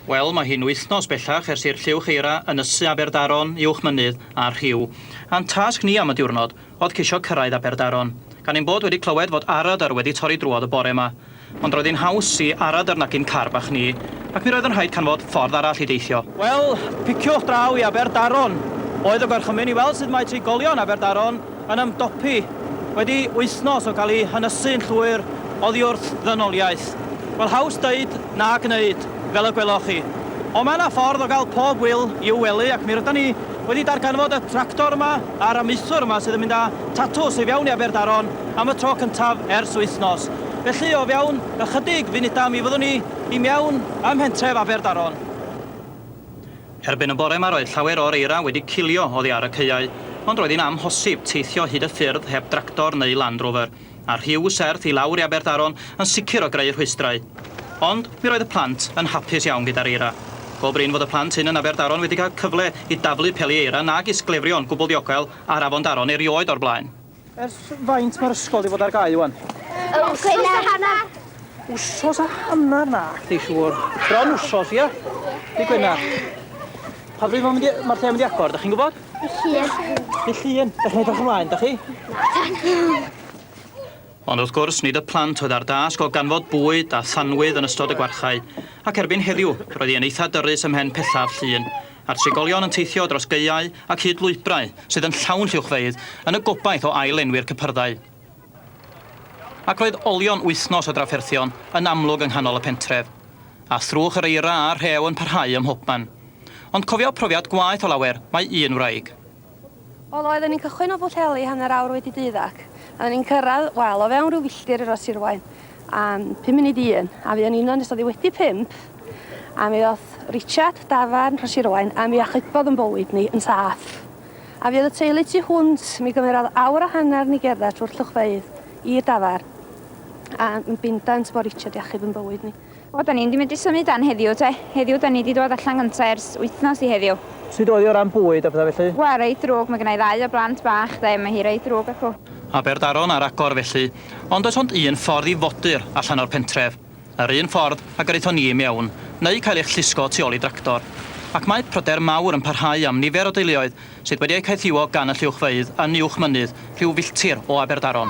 Wel, mae hi'n wythnos bellach ers i'r lliwch eira ynysu Aberdaron uwch mynydd a'r rhiw. A'n tasg ni am y diwrnod oedd ceisio cyrraedd Aberdaron. Gan ein bod wedi clywed fod aradr wedi torri drwodd y bore 'ma. Ond roedd hi'n haws i aradr nagu'n car bach ni, ac mi roedd yn rhaid canfod ffordd arall i deithio. Wel, piciwch draw i Aberdaron oedd y gorchymyn i weld sut mae trigolion Aberdaron yn ymdopi wedi wythnos o gael ei hynysu'n llwyr oddi wrth ddynoliaeth. Wel, haws deud na gneud, fel y gweloch chi. Ond mae yna ffordd o gael pob ŵyl i'w wely ac mi rydan ni wedi darganfod y tractor yma a'r amaethwr yma sydd yn mynd â tatws i fewn i Aberdaron am y tro cyntaf ers wythnos. Felly, o fewn ychydig funudau mi fyddwn ni i mewn ym mhentref Aberdaron. Erbyn y bore 'ma roedd llawer o'r eira wedi cilio oddi ar y caeau, ond roedd hi'n amhosib teithio hyd y ffyrdd heb dractor neu Land Rover, a'r rhiw serth i lawr i Aberdaron yn sicr o greu rhwystrau. Ond, mi roedd y plant yn hapus iawn gyda'r eira. Go brin fod y plant hyn yn Aberdaron wedi cael cyfle i daflu peli eira nag is glefrio'n gwbl ddiogel ar afon Daron erioed o'r blaen. Ers faint mae'r ysgol wedi bod ar gau wan? Wsos a hanner. Wsos a hanner na, chdi siŵr. Bron wsos, ia? Di Gwener. Pa bryd mae'n ma lle mynd i agor, da chi'n gwybod? Di llun. Di llun. Da chi'n edrych ymlaen, da chi? Na. Ond wrth gwrs, nid y plant oedd ar dasg o ganfod bwyd a thanwydd yn ystod y gwarchau, ac erbyn heddiw, roedd hi yn eitha dyrus ymhen pethaf llun, a'r trigolion yn teithio dros gaeau ac hyd lwybrau sydd yn llawn lluwchfeydd yn y gobaith o ail-lenwi'r cypyrddau. Ac roedd olion wythnos o drafferthion yn amlwg yng nghanol y pentref, a thrwch yr eira a'r rhew yn parhau ym mhobman. Ond cofio profiad gwaeth o lawer, mae un wraig. Wel, oedden ni'n cychwyn o Bwllheli hanner awr wedi deuddag, a oedden ni'n cyrraedd, wel, o fewn rhyw filltir i Ros Sirwain, am pum munud i un, a fuon ni'n yno nes oddi wedi pump, a mi ddoth Richard, dafarn Rhos Sirwain, a mi achubodd yn bywyd ni yn saff. A fuodd y teulu tu hwnt, mi gymerodd awr a hanner ni gerdded trwy'r llwchfeydd i'r dafarn, a yn bindant bod Richard i achub yn bywyd ni. O, da ni'n di medru symud dan heddiw te. Heddiw da ni di dwad allan gynta ers wythnos i heddiw. Sud oedd hi o ran bwyd a pethau felly? Wel, reit ddrwg, mae gynna i ddau o blant bach de, mae hi reit ddrwg acw. Aberdaron ar agor felly, ond does ond un ffordd i fodur allan o'r pentref. Yr un ffordd a gyrraethon ni i mewn, neu cael eich llusgo tu ol i dractor. Ac mae pryder mawr yn parhau am nifer o deuluoedd sydd wedi eu caethiwo gan y lluwchfeydd yn uwch mynydd rhyw filltir o Aberdaron.